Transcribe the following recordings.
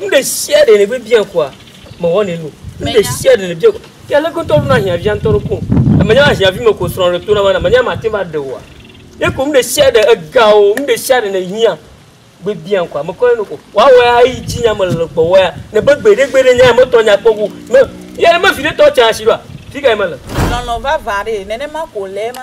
Nu ɖe sia ɖe nègbe bia koa, mewɔnɛ nu. Nu ɖe sia ɖe nèbia koa, ke ale gbetɔ ɖona ahiãvia ŋutɔ ɖo koŋ. Menya ahiãvi me ko srɔ̃a ɖe tona bena menya mate ŋu va ɖe oa. Ye ko nu ɖe sia ɖe, ega o, nu ɖe sia ɖe nèhiã gbe biam koa, mekɔe nu ko. Woawɔe ayi dzi nya mele le gbɔwòa ya, nèbe gbeɖegbeɖe nya ya metɔ nya kpɔ go. Me, ye ale be viɖe tɔ tsa asi ɖoa, fikae mele? Lɔlɔ̃ vava aɖee, nenema ko wòle ema.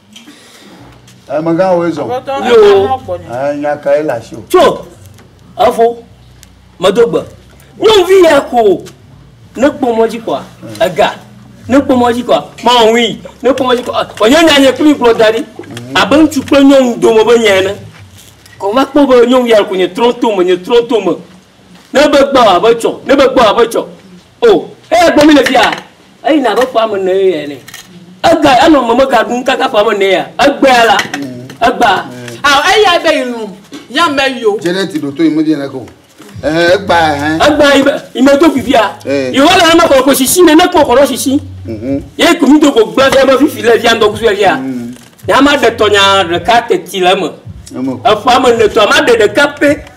Emegã wo ezɔ. Yo. Nya ka ye le asi o. Tso efo medo gbe. Nyɔnuvi ya ko ne kpɔ mɔ dzi kɔa ega ne kpɔ mɔ dzi kɔa mawui ne kpɔ mɔ dzi kɔa wònye nya nye kpli gblɔ da ɖi abe ŋutsu kple nyɔnu dome be nya ene. Kɔva kpɔ be nyɔnu ya ko nye trɔto me nye trɔto me ne be gbɔ abe tsɔ ne be gbɔ abe tsɔ. O, eya gbɔ mí le fia, eyina abe ƒe ame ene ye ene. Ega, enɔ meme ga ɖum kaka ƒe ame ene ya. Egbea la, egbea. A, eya be yi lum, ya me yo. Janet ɖo to yi me di ne ko. Ehe, egbea ehe. Egbea yi be, yi me do fifia. Yi wɔ le eme kɔ ko sisi ne ne kɔ kɔ ɖɔ sisi. Mhm. Ye ko mi do ko gblɔ fia be fifi le fia ŋdɔ kusu fia. Mhm. Ya ma ɖe tɔnya ɖeka teti le eme. Eme. Eƒe ame ene tɔ ma ɖe ɖeka pe.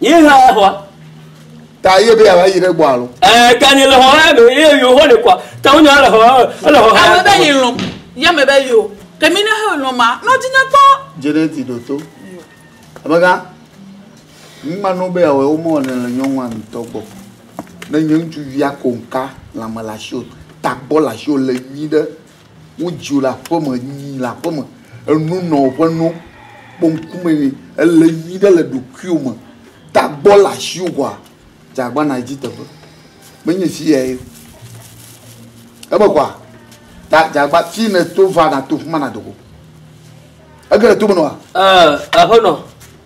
Yi hã ya xɔa. Ta ye be yava yi ɖe gbɔ alo. Ɛɛ ta ni le xɔ hã be ye yo xɔ le kɔa. Ta wonya le xɔ ele xɔ hã. Ame be yi lɔ. Ya me be yo. Ke mi ne he lɔ ma nɔ di ne kpɔ. Jeneti ɖo to. Abega. Mi ma no be awɔ wo mo ne le nyɔnua ntɔ gbɔ. Ne nyɔntu via konka la me la sho. Ta gbɔ la sho le yi ɖe. Wodzi wò le aƒe me, nyi le aƒe me, enu nɔ woƒe no, kpɔ ŋkume nɛ. Èle nyui ɖe le ɖokuiwò me. Tagbɔ le asiwò koa, dze agbana yi dzi teƒe. Menye fi yae o. Eme koa, ta dze agba fi nèto va nàto fi ma nàdo go. Ege le tome nɔa? Ɛɛ, aƒenɔ.